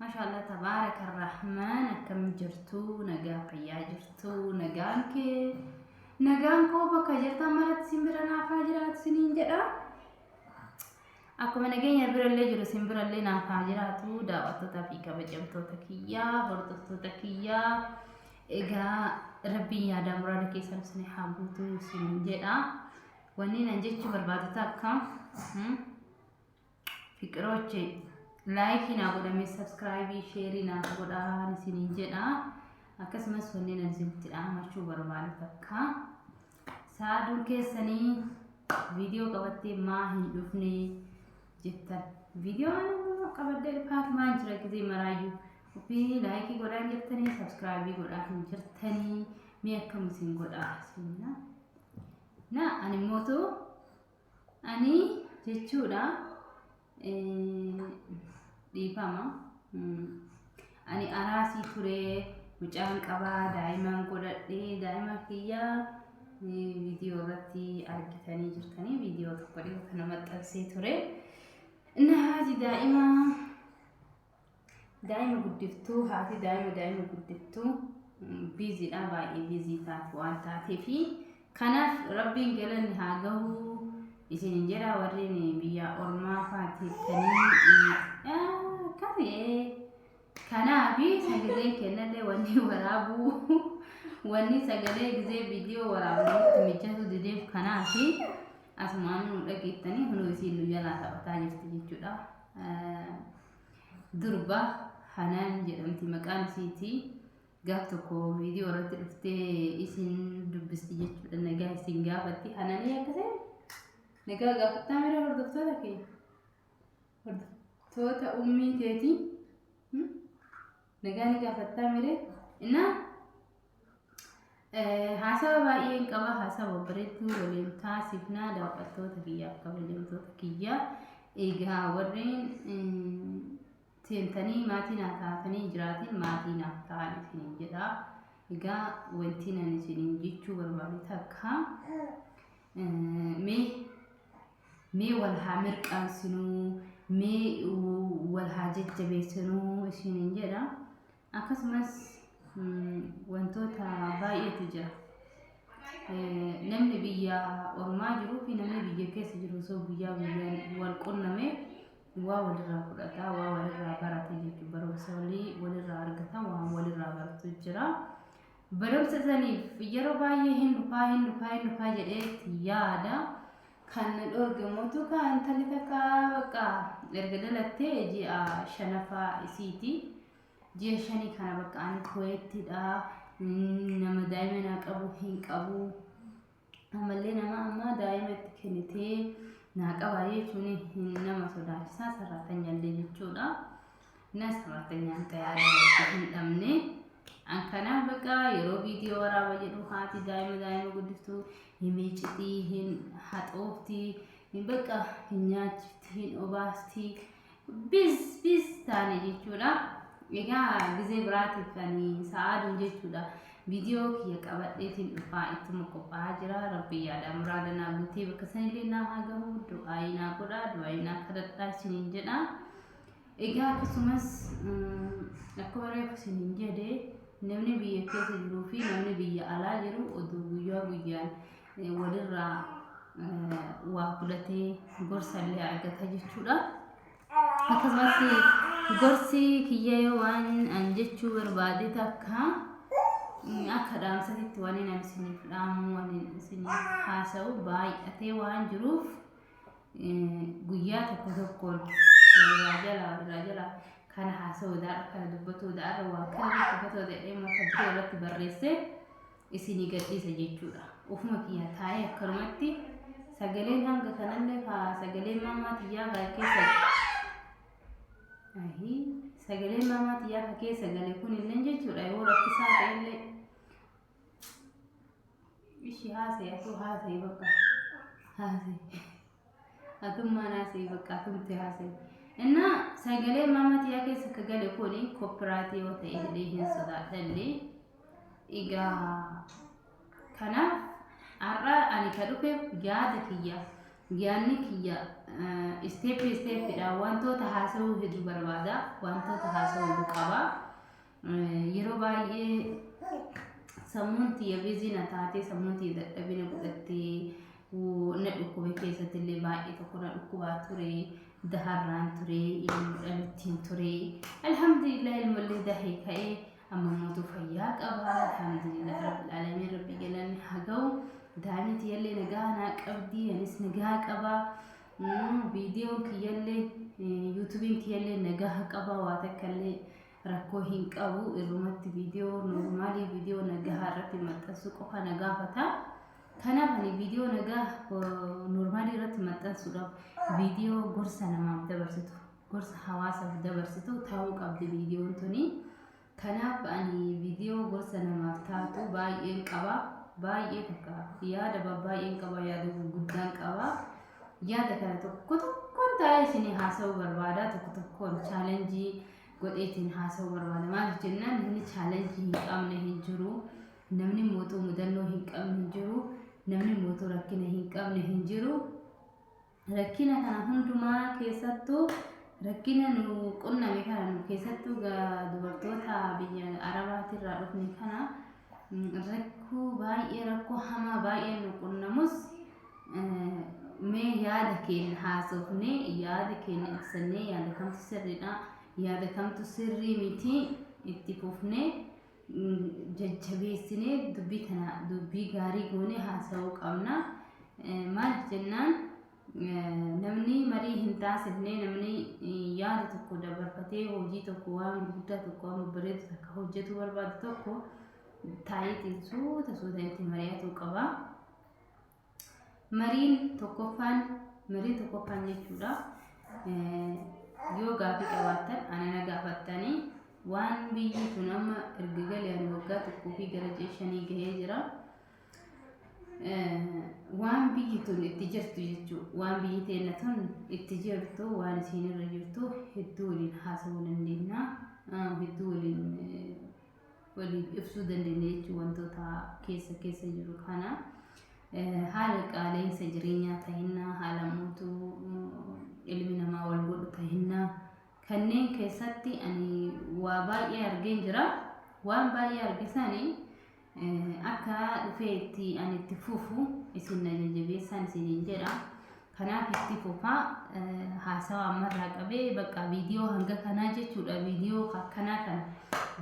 Mashallah tabaaraka rahmaan akkam jirtu nagaa fayyaa jirtu nagaan kee nagaan koo bakka jirtan maratti sin bira naafaa jiraatu siniin jedha akkuma nageenya birallee jiru sin birallee naafaa jiraatu daawwattootaa fi kabajamtoota kiyyaa hordoftoota kiyyaa egaa rabbiin yaadaa muraada keessan isin haa guutu siniin jedha wanni nan jechuu barbaadu takka hmm? fiqiroche laayikii naa godhame sabskraayibii sheerii naaf godhaan isiniin jedha akkasumas wanneen ani isinitti dhaamachuu barbaadu takka saaduun keessanii viidiyoo qabattee maa hin dhufne jettan viidiyoon qabadde dhufaatu maan jira gizee maraayyuu ofii laayikii godhaan jirtanii sabskraayibii godhaa hin jirtanii mee akkam isin godhaa isin na ani mootuu Ani jechuudha dhiifama. Ani araasii ture mucaan qabaa daa'imaan godhadhe daa'ima kiyya viidiyoo irratti argitanii jirtanii viidiyoo tokko dhiyoo kana maxxansee ture. Inni haaji daa'imaa Daa'ima guddiftuu haati daa'ima daa'ima guddiftuu biiziidha baay'ee biizii taate waan taateef kanaaf rabbiin galanni haa gahuu isin hin jedha warreen biyya ormaa faateettanii kamee kanaaf sagalee kennallee wanni waraabuu wanni sagalee gizee viidiyoo waraabuutti mijatu dideef kanaaf asumaan nu dhageettanii hunduu isiin nu jalaa taphataa jirti jechuudha. Durba Hanaan jedhamti maqaan isiiti. Gaaf tokko viidiyoo irratti dhuftee isin dubbisti jechuudha nagaa isin gaafatti. Hanaanii akka ta'e nagaa gaafattaa mira hordoftoota kee. Hordoftoota ummii teetii. Nagaa ni gaafattaa mire. Inna haasawa baay'een qaba haasawa bareedduu waliin taasifnaa daawwattoota kiyyaaf kabajamtoota kiyyaa. Egaa warreen seentanii maatii naaf taatanii jiraatiin maatii naaf ta'an isiniin jedha. Egaa wanti nan isiniin jechuu barbaade takka mee Mee wal haa mirqaansinuu, mee wal haa jajjabeessinuu isiniin jedha. Akkasumas wantoota baay'eetu jira. Namni biyya ormaa jiruu fi namni biyya keessa jiru osoo guyyaa guyyaan wal qunname waa walirraa fudhata, waa walirraa barata jechuudha. Barumsa walii walirraa argata, waan walirraa baratu jira. Barumsa saniif yeroo baay'ee hin dhufaa hin dhufaa hin dhufaa jedheetti yaada. Kan na dhoorge immoo tukaa intalli takka bakka erga dhalattee ji'a shanaffaa isiiti. Ji'a shanii kana bakka ani kuweettidha. Nama daa'ima naa qabu hin qabu. Ammallee nama amma daa'ima itti kennitee naa qabaa jechuun hin nama sodaachisaa sarraatanyaallee jechuudha. Na sarraatanyaan tajaajila hin dhabne. An kanaaf baqa yeroo viidiyoo waraaba jedhu haati daa'ima daa'ima guddiftu hin miicitii, hin haxooftii, hin baqa hin nyaachifti, hin obaasti. biz biz taane jechuudha. Egaa gizee biraatiif ani sa'aaduun jechuudha. Viidiyoo kiyya qabadheetiin dhufaa ittuma qophaa'aa jira. Rabbi yaada muraada naa guutee bakka sanillee naa haa gahu. Du'aayii naa godha. Du'aayii naa kadhadhaa isiniin jedha. Egaa akkasumas akkuma reefu isiniin jedhe namni biyya keessa jiruu fi namni biyya alaa jiru oduu guyyaa guyyaan walirraa waa fudhatee gorsa illee argata jechuudha. Akkasumas gorsi kiyya yoo waan an jechuu barbaade takka akka dhaamsanitti waan inni isiniif dhaamu waan inni isiniif haasa'u baay'atee waan jiruuf guyyaa tokko tokkoon walirraa jala walirraa jala kana haasa'uu daara kana dubbatuu daara waa kana dubbatu jedhee mata duree irratti barreessee. isinii gadhiisa jechuudha. Ofuma kiyyaa taa'ee akkanumatti sagaleen hanga kanallee haa sagaleen maamaa tiyyaa haa keessa Ahi, sagaleen maamaa tiyyaa haa keessa gale kunillee jechuudha yoo rakkisaa ta'ellee ishi haasee asuu haasee bakka haasee. Atummaan haasa'e bakka atumti haasa'e. Innaa sagalee maama tiyaa keessa ka gale kun koppiraatii yoo ta'e illee hin sodaadhallee. Egaa kanaaf har'a ani ka dhufeef yaada kiyya yaadni kiyya isteeppi isteeppiidhaan wantoota haasa'uu hedduu barbaada wantoota haasa'uu hedduu qaba. Yeroo baay'ee sammuun tiyya bizii na taatee sammuun tiyya dadhabina godhattee na dhukkube keessatti illee baay'ee tokko na dhukkubaa ture daharraan ture ilmoo dhalittiin ture alhamdulillah ilmollee dahee ka'ee amma mootuu fayyaa qaba alhamdulillah rabbil alamin rabbi galanni haa ga'u daa'imni tiyyallee nagaa naa qabdi anis nagaa qaba viidiyoon kiyyallee yuutubiin kiyyallee nagaa qaba waa takkallee rakkoo hin qabu irrumatti viidiyoo noormaalii viidiyoo nagahaa irratti maxxansuu qofa na gaafata. Kanaaf ani viidiyoo nagaa noormaalii irratti maxxansuudhaaf viidiyoo gorsa namaaf dabarsitu gorsa hawaasaaf dabarsitu ta'uu qabdi viidiyoon tuni. Kanaaf ani viidiyoo gorsa namaaf taatu baay'een qaba. Baay'ee takka yaada baay'een qaba yaada gurguddaan qaba. Yaada kana tokko tokkoon taa'ee isin haasa'uu barbaada tokko tokkoon chaalenjii godheetiin haasa'uu barbaada. Maaliif jennaan namni chaalenjii hin qabne hin jiru. Namni mootuu mudannoo hin qabne hin jiru. Namni mootuu rakkina hin qabne hin jiru. Rakkina kana hundumaa keessattuu rakkina nu qunname kana nu keessattuu dubartoota biyya Arabaatirraa dhufne kana Rakkoo baay'ee rakkoo hamaa baay'ee nu qunnamus mee yaada keenya haasofnee yaada keenya ibsannee yaada kamtu sirriidha yaada kamtu sirrii miti itti fufnee jajjabeessinee dubbii tana dubbii gaarii goonee haasa'uu qabna. Maal jennaan? Namni marii hin taasifne, namni yaada tokko dabarfatee hojii tokko waan gurguddaa tokko waan babbareedu takka hojjetuu barbaadu tokko taayitiin suuta suuta itti mari'atuu qaba. Mariin tokkoffaan mariin tokkoffaan jechuudha yoo gaafii qabaattan ana na gaafattanii waan biyyi kun amma erga galeen waggaa tokkoo fi gara ji'a shanii gahee jira. waan biyyi tun itti jirtu jechuudha. Waan biyyi teenna tun itti jirtu waan isiin irra jirtu hedduu waliin haasawuu dandeenya. Hedduu waliin waliif ibsuu dandeenya jechuun wantoota keessa keessa jiru kana. Haala qaala'insa jireenyaa tahinnaa, haala mootuu ilmi namaa wal godhu tahinnaa kanneen keessatti ani waa baay'ee argeen jira. Waan baay'ee arge sanii Akka dhufee itti an itti fufu isin na jajjabeessaan isiniin jedha. Kanaaf itti fufaa haasawa ammarraa qabee bakka viidiyoo hanga kanaa jechuudha. Viidiyoo akkanaa kan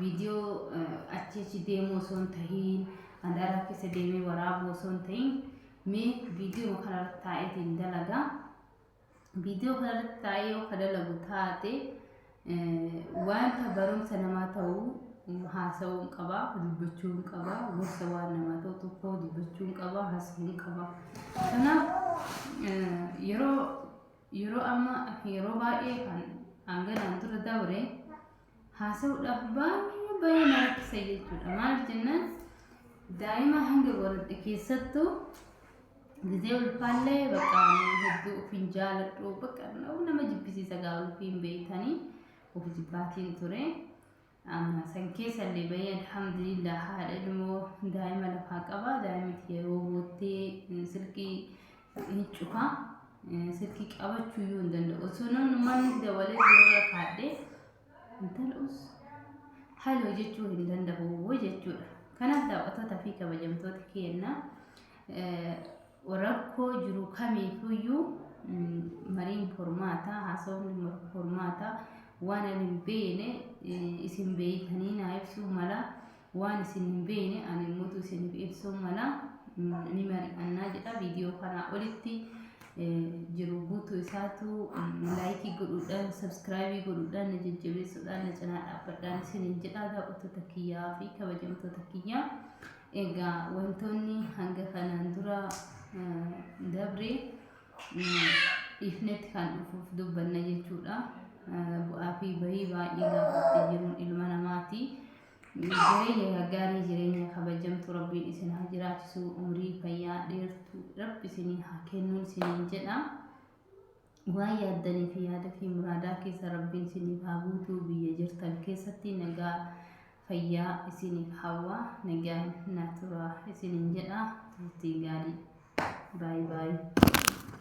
viidiyoo achi achi deemuu osoo hin tahiin mandaaraa keessa deemee waraabuu osoo hin tahiin mee viidiyoo kanarratti taa'eetiin dalagaa. viidiyoo kanarratti taa'ee yoo ka dalagu taate wanta barumsa namaa ta'uu haasa'uun qaba dubbachuun qaba gorsa waan namaa ta'u tokko dubbachuun qaba haasa'uun qaba kanaaf yeroo yeroo amma yeroo baay'ee kan hanganaan dura dabre haasa'uudhaaf baay'ee baay'ee na rakkisa jechuudha. Maaliif jennaan daa'ima hanga godhadhe keessattuu gisee ulfaallee bakka hedduu of hin jaaladhu bakka nama jibbisiisa gaa ulfii hin beektanii of jibbaatiin ture. Amma san keessallee bahee alhamdulillah haadha ilmoo daa'ima lafaa qaba. Daa'imti yeroo boottee silkii ni cufa silki qabachuu iyyuu hin danda'u osoo namni manni dawalee gurra kaadhee intalus haloo jechuu hin danda'u jechuudha. Kanaaf daawwattoota fi kabajamtoota keenya rakkoo jiru kamiifuyyuu mariin furmaataa haasofni furmaataa waan ani hin beekne isin beektanii naa ibsuu mala Waan isin hin beekne ani immuutu isiniif ibsuun mala, ni mari'annaa jedha. Viidiyoo kanaa olitti jiru guutuu isaatu laayikii godhuudhaan, sabskraayibii godhuudhaan, na jajjabeessuudhaan, na cinaa dhaabbadhaan isiniin jedha daawwattoota kiyyaa fi kabajamtoota kiyyaa. Egaa wantoonni hanga kanaan dura dabre dhiifnetti kan dhufuuf dubbanna jechuudha. Bu'aa fi bahii baay'ee gaafattee jiruun ilma namaati. Jireenya gaggaarii jireenya kabajamtu rabbiin isin haa jiraachisu umrii fayyaa dheertu rabbi isinii haa kennuun isiniin jedha waan yaaddanii fi yaada fi muraadaa keessa rabbiin isiniif haa guutuu biyya jirtan keessatti nagaa fayyaa isiniif hawwa nagaan na tura isiniin jedha turtii gaarii baay'ee baay'ee.